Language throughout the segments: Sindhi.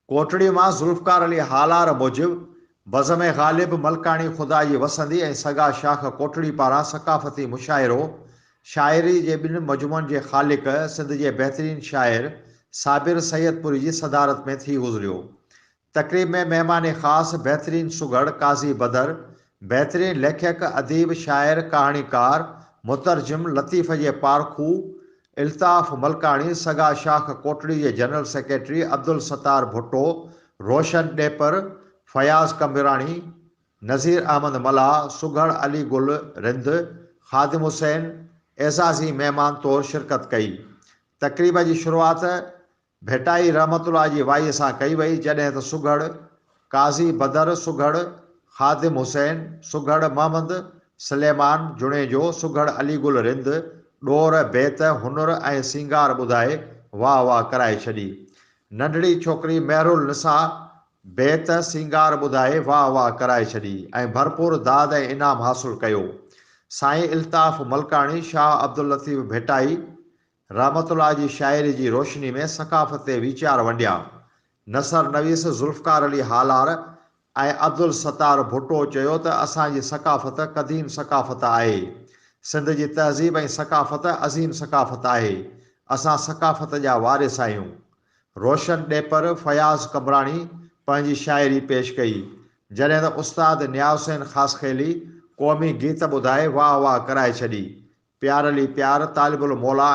ڪوٽڙي مان ذوالفقار علي هالار موجب بزم غالب ملڪاڻي خدا جي وسندي ۽ سگا شاخ ڪوٽڙي پاران ثقافتي مشاعرو شاعري جي ٻن مجموعن جي خالق سنڌ جي بهترين شاعر صابر سيدپوري جي صدارت ۾ ٿي گذريو تقريب ۾ مهمان خاص بهترين سگهڙ قاضي بدر، بهترين ليکڪ، اديب، شاعر، ڪهاڻيڪار، مترجم، لطيف جي پارکو، الطاف ملڪاڻي، سگا شاخ ڪوٽڙي جي جنرل سيڪريٽري عبدالستار ڀٽو، روشن ڏيپر، فياض ڪنڀراڻي، نذير احمد ملاح، سگهڙ علي گل رند، خادم حسين، اعزازي مهمان طور شرڪت ڪئي. تقريب جي شروعات ڀٽائي رحمة الله جي وائيء سان ڪئي وئي، جڏهن ته سگهڙ قاضي بدر، سگهڙ خادم حسين، سگهڙ محمد سليمان جوڻيجو، سگهڙ علي گل رند، ڏور، بيت، هنر ۽ سينگار ٻڌائي واهه واهه ڪرائي ڇڏي. ننڍڙي ڇوڪري مهرالنساء بيت، سينگار ٻڌائي واهه واهه ڪرائي ڇڏي ۽ ڀرپور داد ۽ انعام حاصل ڪيو. سائين الطاف ملڪاڻي، شاهه عبداللطيف ڀٽائي، رحمت الله جي شاعري جي روشني ۾ ثقافت تي ويچار ونڊيا. نثر نويس ذوالفقار علي هالار ۽ عبدالستار ڀٽو چيو ته اسان جي ثقافت قديم ثقافت آهي. سنڌ جي تهذيب ۽ ثقافت عظيم ثقافت آهي. اسان ثقافت جا وارث آهيون. روشن ڏيپر فياض قمبراڻي پنهنجي شاعري پيش ڪئي، جڏهن ته استاد نياز حسين خاصخيلي قومي گيت ٻڌائي واهه واهه ڪرائي ڇڏي. پيار علي پيار، طالب الموليٰ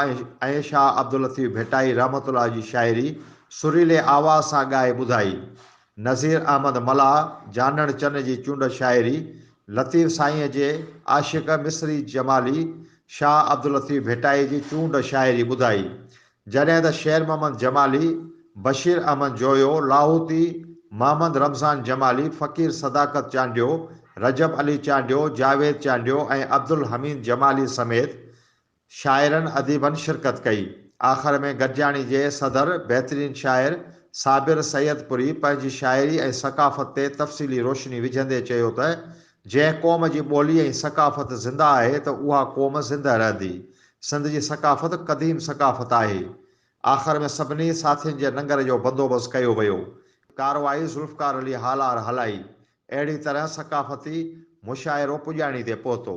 ۽ شاهه عبداللطيف ڀٽائي رحمة الله جي شاعري سريلي آواز سان ڳائي ٻڌائي. نذير احمد ملاح جانڻ چن جي چونڊ شاعري لطيف سائينء جي عاشق مصري جمالي شاهه عبداللطيف ڀٽائي جي چونڊ شاعري ٻڌائي. جڏهن ته شير محمد جمالي، بشير احمد جويو، لاهوتي، محمد رمضان جمالي، فقير صداقت چانڊيو، رجب علي چانڊيو، جاويد چانڊيو ۽ عبدالحميد جمالي سميت شاعرن اديبن شرڪت ڪئي. آخر ۾ گڏجاڻي جي صدر بهترين شاعر صابر سيدپوري پنهنجي شاعري ۽ ثقافت تي تفصيلي روشني وجهندي چيو ته جنهن قوم جي ٻولي ۽ ثقافت زنده آهي ته اها قوم زنده رهندي. سنڌ جي ثقافت قديم ثقافت آهي. آخر ۾ سڀني ساٿين جي ننگر جو بندوبست ڪيو ويو. ڪارروائي ذوالفقار علي هالار هلائي. اهڙي طرح ثقافتي مشاعرو پڄاڻي تي پهتو.